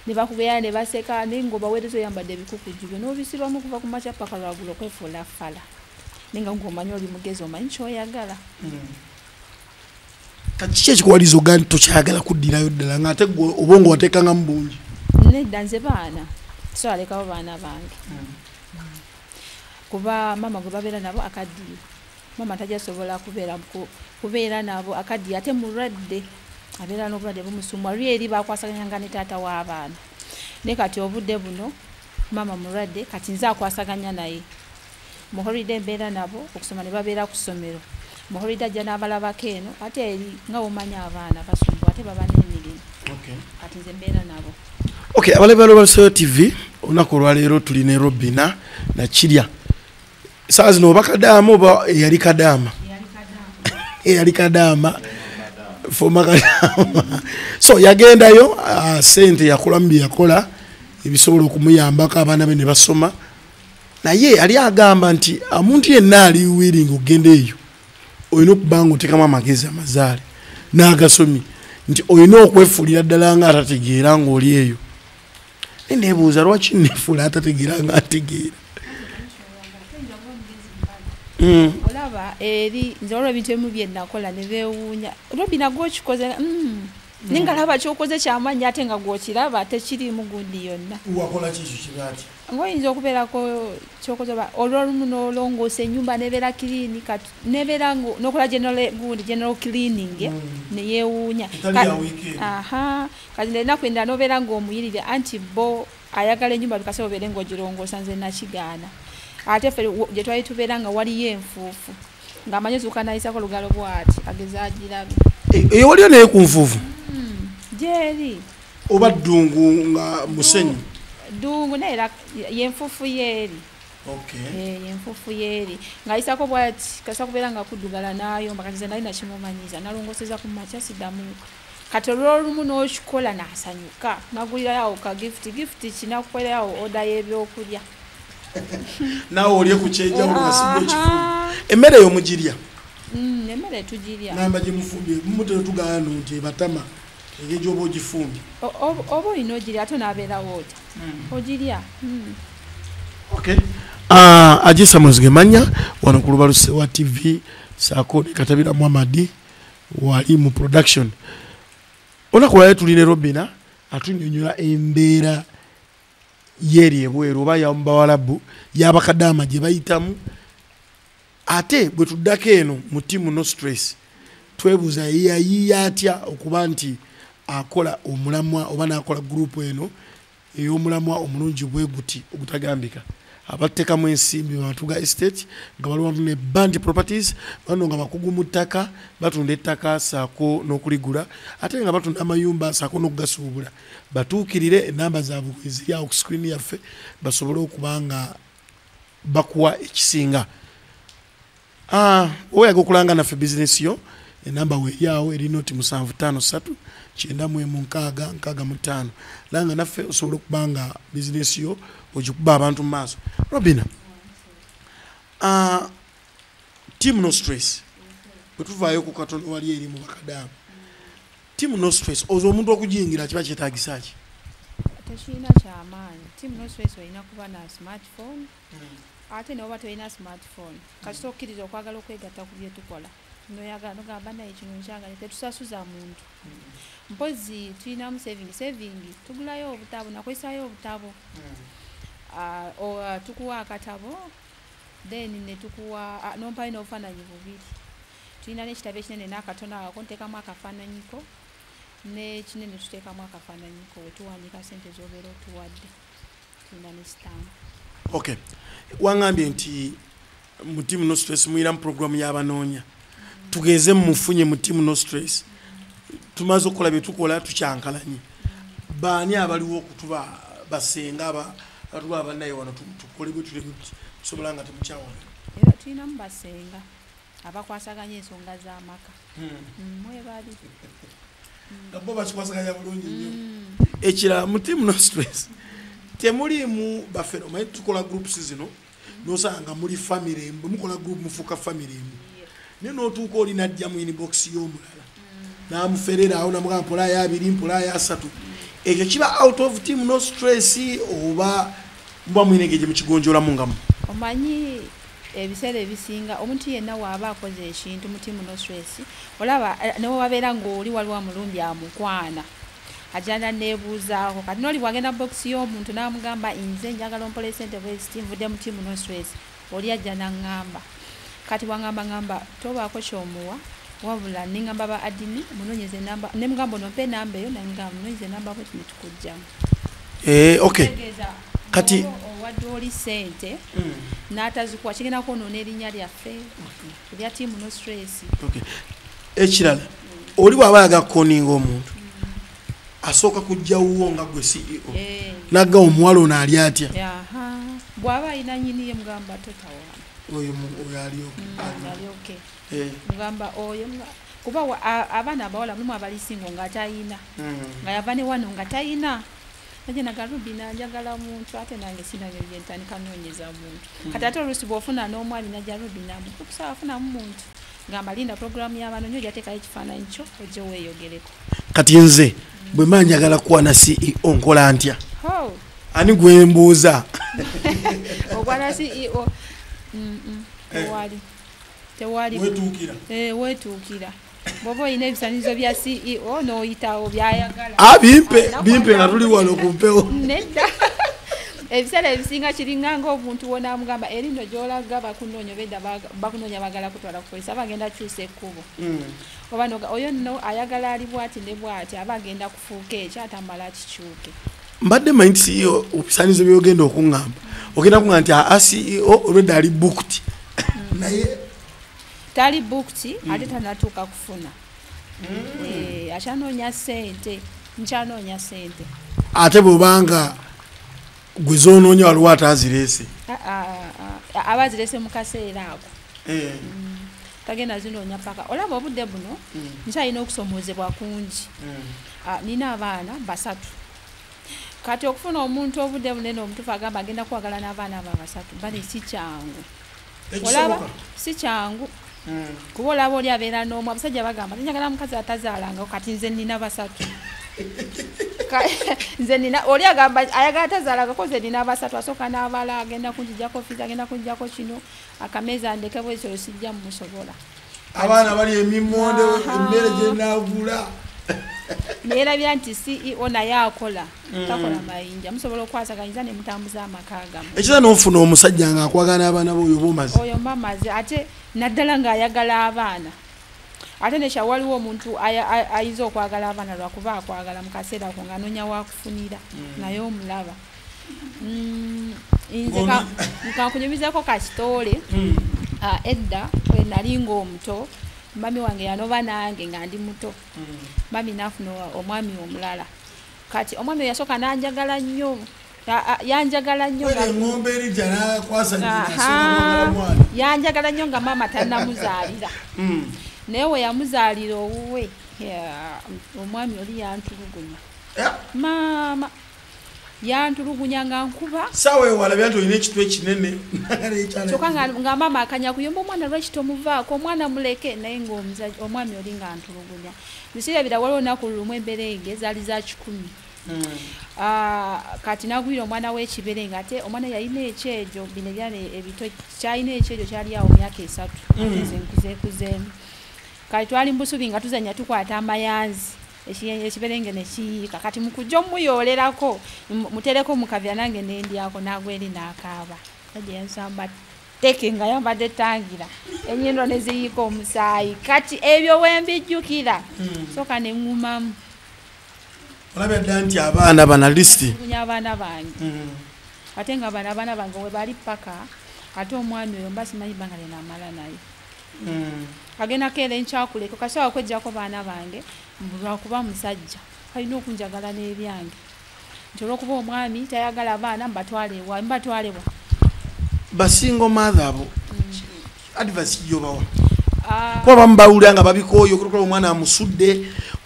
ne bakugeya ne baseka naye nga obaweereza oyambadde ebikukuju byo n'obisibamu okuva ku makya paka lwagula okwefuula fala naye nga ngaomanyi oli mugezi omanyi kyoyagala mm. kati kiki ekikuwaliza oga nti tokyayagala kuddirayo ddala nga ate gwe obongo wateekangamu bungi nedda nze baana tisobalekawo baana bange mm. kuba maama gwe babeera nabo akaddiyo mama tajasobola kubeera kubeera nabo akaddiye ate mulwadde abeera n'obulwadde bumusumwa luli eri bakwasaganyanga ne taata w'abaana naye kati obudde buno maama mulwadde kati nze akwasaganya naye muholide mbeera nabo okusoma ne babeera ku ssomero muholide ajja n'abalabako eno ate eri nga womanya abaana basumbu ate baba n'emirimu kati nze mbeera nabo ok abalabibalo balusoyo tv olunaku olwaleero tuli ne robina nakirya saa zino oba kadaama oba eyali kadaama eyali kadaama foma kadaama so yagendayo ah, sente yakolamu byeyakola ebisobola okumuyambako abaana be ne basoma naye ali agamba nti omuntu yenna ali wiringa okugenda eyo olina okuba nga otekamu amagezi amazaale n'agasomye nti olina okwefuulira ddala nga atategeera ng'oli eyo naye nebuuza lwaki nefula atategeera nga ategeera hmm. olaba eri nze olwo ebintu emu byenakola nebewuunya robina gwokikoze hmm. naye nga laba kyokoze kyamanyi ate nga gwokiraba ate kirimu gundi yonna ngaoyinza okubeerako kyokoze olwolumu nolongoosa enyumba nebeera clean nebeera nokola gundi general cleaning hmm. neyewuunya kati nenaku endala nobeera ngaomuyirire anti bo ayagala enyumba bikase obeere ngaogirongoosa nze nakigaana ate fe gyetwali tubeera nga waliyo enfuufu ngaamanyi zuuka nayisako olugalo bwati ageze agirabe eyo eh, eh, waliyo naye ku nfuufu hmm, gyeri oba ddungu nga musenyu ddungu naye era yenfuufu yeeri Eh, enfufu yeeri ng'ayisako bwati kasa kubeera nga kuddugala n'ayomba kati ze nali nakimumanyiza nalongoseza ku makya siddamu kati olwolumu n'okikola nasanyuka nagulirayoawo ka gifuti gifuti kinakukolerawo oda y'ebyokulya naawe olye ku kyenjawulo nasiga ekifu emmere eyo mugirya mm, emmere tugirya namba gye mufumbye mumutera tugaano nti ebatama engeri gyoba ogifumbye oba olina ogirya ate onabeerawo otya mm. ogirya mm. okay ah, ajisa muzige manya wano ku lubalu sewa tv saako ne katabira muhamadi wali mu production olunaku lwali tuli ne robina atunyonyola embeera yeeri ebweru oba yamubawalabu yabakadaama gye bayitamu ate bwe tuddako eno mu timu no stress twebuuza yeyayiya atya okuba nti akola omulamwa oba nakola gurupu eno ey'omulamwa omulungi bwe guti ogutagambika abattekamu ensimbi batuga estate nga baliwamu ne band properties bano nga bakugu mu ttaka batunda ettaka saako n'okuligula ate nga batunda amayumba saako n'okugasuubula batuukirire enamba zaabwe eziri awo ku screen yaffe basobole okuba nga bakuwa ekisinga Ah, oyaga okulanga naffe bizinesi yo enamba weyawo eri noti musanvu tano satu kyenda mwemu nkaaga nkaaga mutaano langa naffe osobola okuba nga bizinesi yo ogikuba abantu mu maaso robina ah, team no stress bwetuvaayo ku katonda wali eri mu bakadaamu team no stress oza omuntu okujingira kiba kyetagisa ki tekirina kyamaanyi team no stress olina kuba na smartphone hmm. ate newoba tolina smartphone kasita okkiriza okwagala okwegatta ku byetukola noyagala nogamba naye kino nkyagale tetusasuza muntu hmm. mpozi tulinamu saving saving tugulayo obutabo nakozesayo obutabo hmm. ah, ah, tukuwa akatabo then netukuwa ah, nompayo nobufananyi bubiri tulina nekitabo ekinene nakatono ako ntekamu akafananyiko nekinene tutekamu akafananyiko wetuwandika sente zobeera otuwadde okay wangambye nti mu team no stress muyira mu program yabanoonya tugeze mumufunye mu team no stress tumaze okukola byetukola tukyankalanye baani abaliwo okutuba basenga batuba abanaye wano tukole bwetulekusobola nga temukyawana tulinamu basenga abakwasaganya ensonga z'amaka hmm. mm, mwebali nga bo bakikwasaganya bulungi nnyo mm. ekirala mutimu no stress temuliimu baffe omanyi tukola groups zino nosanga muli famire emu bwemukola group mufuuka famire emu naye notuuka oli najja mu inbox y'omulala namuferera awo namuga mpola ya abiri mpola ya asatu ekyo kiba out of team no stress oba mba mwine ngeje mukigonjola mungamu omanyi ebiseera ebisinga omuntu yenna waaba akoze ekintu mutimu no stress olaba eh, newe wabeera ngaoli waliwo amulumbi amukwana ajana nebuuzaako kati noli bwagenda box y'omuntu namugamba inze njagala ompola esente bweziti nvudde mutimu no stress oli ajja naŋŋamba kati bwaŋŋamba ŋŋamba tobaako kyomuwa wabula neŋŋamba ba adini munonyeza enamba ne mugamba ono mpa enamba eyo naye mugamba munonyeza enamba bweti ne tukujjamu eh, okay kati owadde oli sente hmm. n'atazikuwa kigenda kwonoona erinnya lyaffe erya tiimu no stress ekirala oli bw'aba ayaga kukoninga omuntu asooka kujja wuwo nga gwe ceo eh. nagga omuwala ono ali atya bwaba alina nyiniye mugamba totawana oyo ali oke mm, eh. mugamba oyo kuba abaana abawala mulimu abalisingo nga tayina mm. nga yava ne wano nga tayina naye nagalubi nanjagala muntu ate nange sinabyo byentandika noonyeza muntu mm. kati ate oluusi bwofuna n'omwami najalubi namukukusa afunamu muntu ngamba linda program ya bano nyo jateka ekifana ncho oje weyogeleko kati nze bwe manya gala kwa na CEO nkola antya ho ani gwe mbuza okwa na CEO mm -mm. Eh. wali te wali wetukira eh wetukira bobo ine bisanizo bya CEO no itawo bya yagala ah bimpe ah, bimpe na tuli wano kumpewo nenda ebisale bisinga kiringa ngo omuntu wona amugamba erino jola gaba kunonyo beda bakunonya bagala kutwala kupolisi aba agenda kyusa ekkubo mm. oba oyo no ayagala ali bwati ne bwati aba agenda kufuuka ekyo atamala kikyuke mbadde manyi nti ceo obisaanizo byogenda okuŋŋamba ogenda kuŋa nti aa ceo olwedda ali bukti mm. naye tali bukti mm. ate tanatuuka kufuna eh, akyanoonya sente nkyanoonya sente ate bwobanga gwe zononya waliwo ate azirese aba azirese mukaseera ako eh. mm. tagenda zinonya paka olaba obudde buno mm. nkyalina okusomozebwa kungi mm. nina abaana basatu kati okufuna omuntu obudde bunene omutufu agamba agenda kwagala n'abaana aba basatu bali si kyangu olaba si kyangu hmm. kuba olaba oli abeera n'omu abasajja bagamba tinjagala mukazi atazaalangako kati nze nina basatu nze nina oli agamba ayagala tazaalangako nze nina basatu asooka n'abala agenda kunjijako fizi agenda kunjijako kino akameeza ndekebwezolo sijja mumusobola abaana bali emimmonde emmere gyenagula neyerabira nti ceo naye akola mm. takola mayinja musobola okwasaganyiza nemutambuza amaka gamu ekiza nofuna omusajja nga akwagana abaana boyo bomazi oyo mamazi ate naddala ngaayagala abaana ate nekya waliwo omuntu ayinza okwagala abaana lwakuba akwagala mukaseera ko nga anonya wakufunira mm. naye omulaba mm, nze nkankunyumizako kasitoole hmm. ah, edda wenali ngaomuto mami wange yanoba nange nga ndi muto hmm. mami nafuna omwami omulala kati omwami oyo yasooka nanjagala nnyo yanjagala nnyo yanjagala nnyo nga maama tanamuzaalira hmm. naye weyamuzaalira owuwe omwami oli yantulugunya maama yantulugunya nga nkuba sawa ewala byanti olina ekitu ekinene kyoka nga maama akanya kuyomba omwana lwaki tomuvaako omwana muleke naye ngaomwami oli nga ntulugunya biseera bira waliwo naku lumu embeera ege zaali za kikumi hmm. ah, kati nagwira omwana wekibere nga ate omwana yalina ekyejo bino ebyana ebito kyalina ekyejo kyali awo myaka esatu hmm. nkuzeekuzeemu kati twali mubusubi nga tuzanya tukwata amayanzi ekiberenge nekiyiika kati mukujja omuyoolerako mutereko mukavya nange nendyako nagwa eri nakaaba agyensamba teke nga yambadde tangira enyindo neziyiika omusaayi kati ebyo wembijjukira hmm. soka neŋumamu olabya dda nti abaana bana lisiti abaana bange hmm. ate nga bana abaana bange webali paka ate omwami oyo mba simanyi banga lyenamala naye mm. agenda keera enkyakuleka kasobola kwejjako baana bange lwakuba musajja alina okunjagala n'ebyange nti olwokuba omwami tayagala abaana mbatwalewa mbatwalewa basingo maatha abo mm. advasi jobawa ah. kuba bamubawulira nga babikooyo okutokola omwana amusudde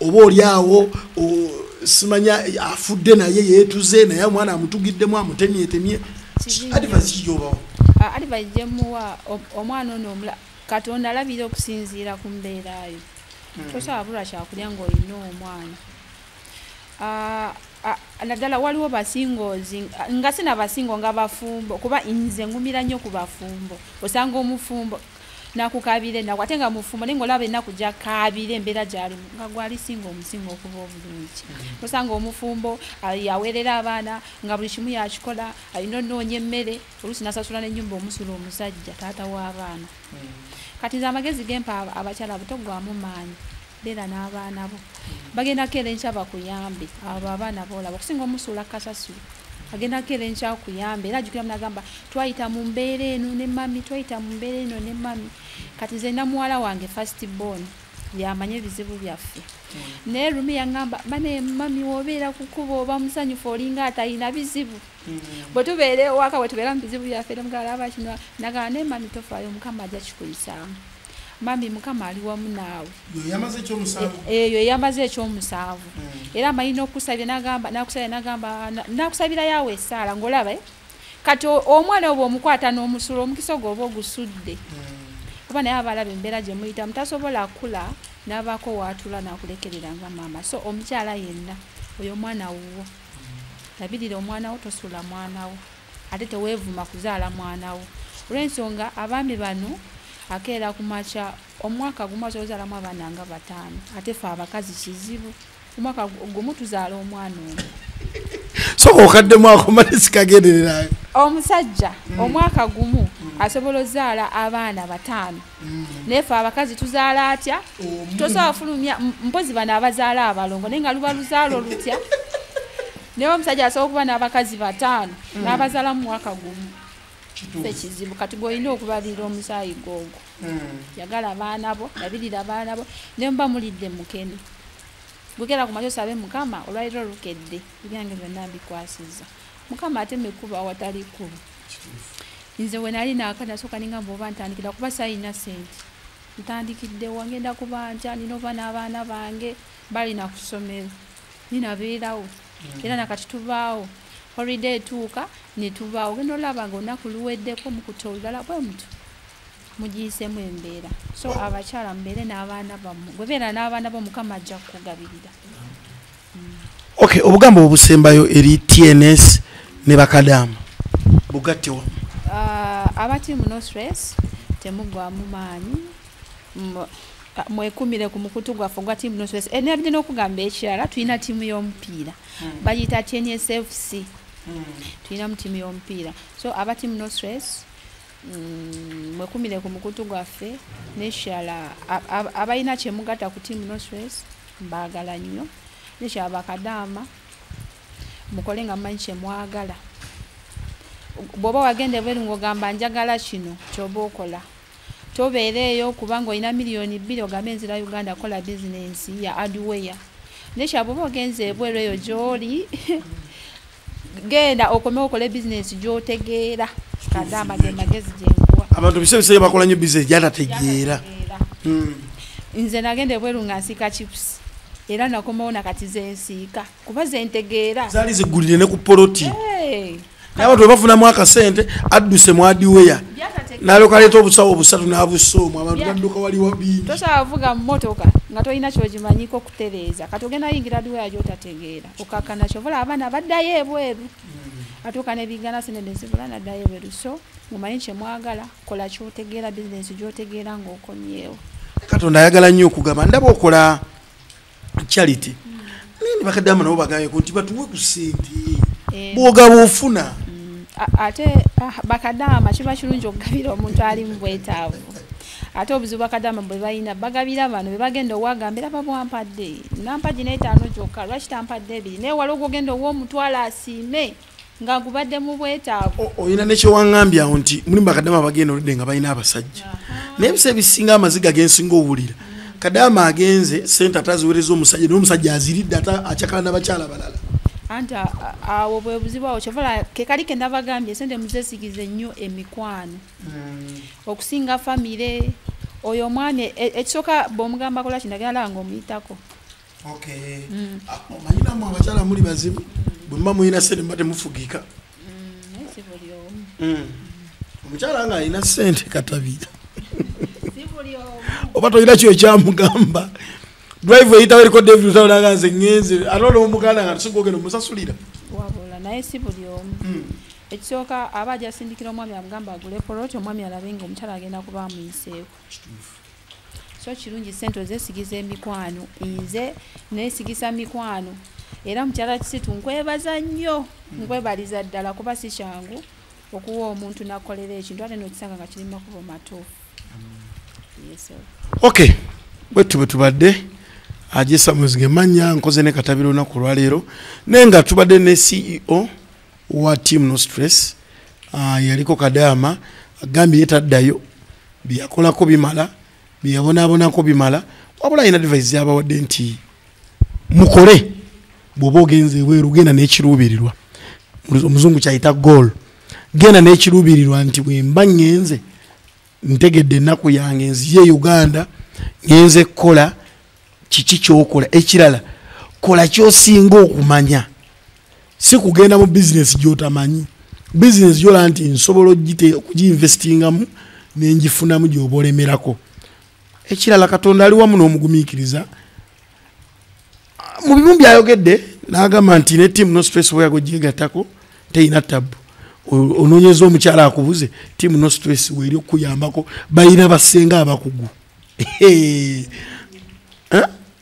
oba oli awo simanya afudde naye yeetuze naye omwana amutugiddemu amutemyetemye advasi jobawa alivayi gyemuwa omwana ono omula katonda alabira okusinziira ku mbeerayo hmm. tosobola bulwa kyakulya ngaolina omwana naddala waliwo basingozi nga sina basingo nga bafumbo kuba nze ngumira nnyo ku bafumbo osanga omufumbo nakukabira enaku ate nga mufumbo naye ngaolaba enaku jakabira embeera gyalimu nga gwali singa omusinga okuba obulungi mm-hmm. osanga omufumbo ah, yaweerera abaana nga buli kimu yakikola alina onoonya emmere oluusi nasasula nenyumba omusula omusajja taata w'abaana hmm. kati nze amagezi gempa abakyala butogwamu maanyi beera n'abaana bo bagenda keera enkya bakuyambe abo abaana boolaba okusinga omusuula kasasiro agenda keera enkya kuyambe era ajukira munagamba twayita mu mbeera eno ne mami twayita mu mbeera eno ne mami kati nze namuwala wange fast born yamanyi ebizibu byaffe mm. naye rumi yaŋamba bane mami wobeera kukuba oba musanyufu olinga atalina bizibu mm. bwe tubeera ewaka bwe tubeera mu bizibu byaffe nemugalaba kino nagamba naye mami tofaayo mukama ajja kikuyisaamu mami mukama ali wamu naawe eyo eyamaze ekyomusanvu mm. era amanyi nokusabira nagamba nakusabira nagamba nakusabira yawe esaala ngaolaba eh? kati omwana oba omukwata n'omusula omukisa ogwo oba ogusudde hmm. oba naye abalaba embeera gye muyitamu tasobola kula n'abaako waatula n'akulekerera nga maama so omukyala yenna oyo omwana wuwo hmm. labirira omwana wo tosula mwana wo ate teweevuma kuzaala mwana wo olw'ensonga abaami bano akeera ku makya omwaka gumu asobola ozaalamu abaana nga bataano ate fe abakazi kizibu omwaka gumu tuzaala omwana omu soka okaddemu ako mali sikagendererayo omusajja mm. omwaka gumu mm. asobola ozaala abaana bataano mm. naye fe abakazi tuzaala atya tosobola fulumya mpozi bano abazaala abalongo naye nga luba luzaala olutya naye omusajja asobola okuba n'abakazi bataano n'abazaala mu mwaka gumu ekizibu kati gweolina okubalira omusaayi googo hmm. yagala baana bo labirira baana bo naye muba mulidde mukene gugera ku makyo sabe mukama olwaliro olukedde ebyange byonna mbikwasiza mukama ate mekuba awatali kkubo nze wenali naaka nasooka ninga mba oba ntandikira kuba sayina sente ntandikiddewa ngenda kubanja nina oba n'abaana bange balina ku ssomero ninabeerawo hmm. era nakati tubaawo holiday etuuka netubaawo genda olaba nga olunaku luweddeko mukuta olulala bwe mutu mugiyisemu embeera so abakyala mubeere n'abaana bamu gwebeera n'abaana bo mukama ajja kukugabirira ok obugambo obusembayo eri tns ne bakadamu bugatte wamu ah, abati muno stress temugwamu maanyi mwekumire ku mukutu gwaffe ogwa tiamu nostress eh, nabide n'okugamba ekirala tulina tiimu y'omupiira hmm. bagiyita tnsfc hmm. tulinamu tiimu y'omupiira so aba tiamu nostress mm, mwekumire ku mukutu gwaffe neshala abalina kyemugata ku tiamu nosres mbagala nnyo neshala bakadaama mukole nga mumanyi kyemwagala bwoba wagenda ebweru ngaogamba njagala kino kyoba okola tobeereeyo kubanga olina miliyoni bbiri ogambe enzira uganda kola bizinensi ya adweya nekya bwoba ogenza ebweru eyo gyoli genda okome okole bizinesi gyotegeera kadaama ge magezi gyenkuwa abantu bise bisee bakola nyo bizinesi gyatategeera hmm. nze nagenda ebweru nga nsiika chips era nakomawo nakati zensiika kuba zentegeera zaali zigulire ne ku poloti naye abantu webafunamu akasente adduse mwadiweya nalyoka aleeta obusawo obusatu n'abusoomu abantu badduka waliwo bingi tosavuga mmotoka nga tolina kyogimanyiko tereeza kati ogenda yingira duwa yajo otategeera okakana kyovola abaana baddayo ebweru mm. atuuka nebigana sente nezibula naddayo ebweru so mumanyi kyemwagala kola kyotegeera bizinesi gyotegeera ngaokomyewo katonda ayagala nnyo okugamba ndaba okola charity mm. naye nebakadama nabo bagambeko nti batuwe ku sente eh. bwogaba ofuna mm. ate ah, bakadama kiba kirungi okugabira omuntu ali mu bwetaavu ate obuzibu bakadama bwebalina bagabira bano bebagenda owagambira babwampadde nampa gina etaano kyokka lwaki tampadde ebiri naye wali ogwogenda owomutwalo asiime nga gubadde mu bwetaavu olina nekyewaŋambye awo nti mulimu bakadama bagenda oludde nga balina abasajja naye ebisa ebisinga amaziga gensinga owulira kadama agenze sente ate aziwereza omusajja naye omusajja aziridde ate akyakala nabakyala balala anti awo bwebuzibu awo kyovala kekali kendabagambye sente muzesigize nnyo emikwano mm. okusinga famire oyo omwana e, e, ekisooka bwomugamba kola kino agenda laba ngaomuyitako mm. ah, manyinamu abakyala muli bazibu bwemuba mulina sente muba temufugika mm, omukyala nga alina sente katabira oba tolina kyo ekyamugamba drive eyitawo eriko david lutalo naga nze ngenze ate olwo omuganda nga tusinga ogenda omusasulira wabula naye si buli omu hmm. ekisooka aba ajasindikira omwami amugamba agule poloti omwami alabe nga omukyala agenda kuba amuyiseeko so kirungi sente ozesigiza emikwano nze nesigisa mikwano era mukyala kisitu nkwebaza nnyo hmm. nkwebaliza ddala kuba si kyangu okuwa omuntu nakolera ekintu ate nokisanga nga kiri makubo matuufu ok bwetu bwe tubadde ajesamuzinga emanya nkoze ne katabira olunaku olwaleero naye nga tubadde ne ceo wa team no stress uh, yaliko kadaama agambye yetaddayo byeyakolako bimala byeyabonaabonako bimala wabula alina device zabawadde nti mukole bwoba ogenze ebweru genda nekiruubirirwa omuzungu kyayita goal genda nekiruubirirwa nti bwemba ngenze ntegedde ennaku yange nziye e uganda ngenze kukola kiki kyokola ekirala kola kyosinga okumanya si kugenda mu bizinesi gyotamanyi bizinesi gyolaba nti nsobola okugiinvestingamu nengifunamu gyoba olemerako ekirala katonda ali wamu n'omugumiikiriza mu bimu byayogedde nagamba nti ne tiamu no stress weyago gyegatako teyina tabu ononyeza omukyala akubuze tiamu no stress weri okukuyambako balina basenga abakugu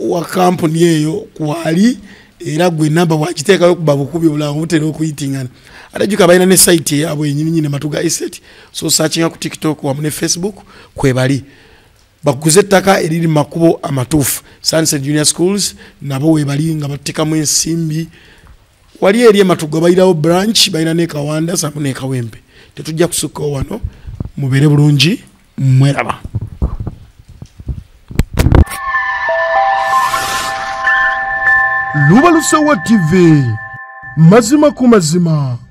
wa kampuni eyo kwali era gwe namba wakiteekayo kuba bukubi obulanga butera okuyitingana ate juka balina ne site eyabwe yenyininyini matu ga eset so searchinga ku tiktok wamu ne facebook kwebali bakuguze ettaka eriri mu makubo amatuufu sunset junior schools nabo webali nga batekamu ensimbi wali eri ematuga balinawo branch balina nekawanda samu nekawempe tetujja kusukkawo wano mubeere bulungi mweraba lubalusewa tv mazima ku mazima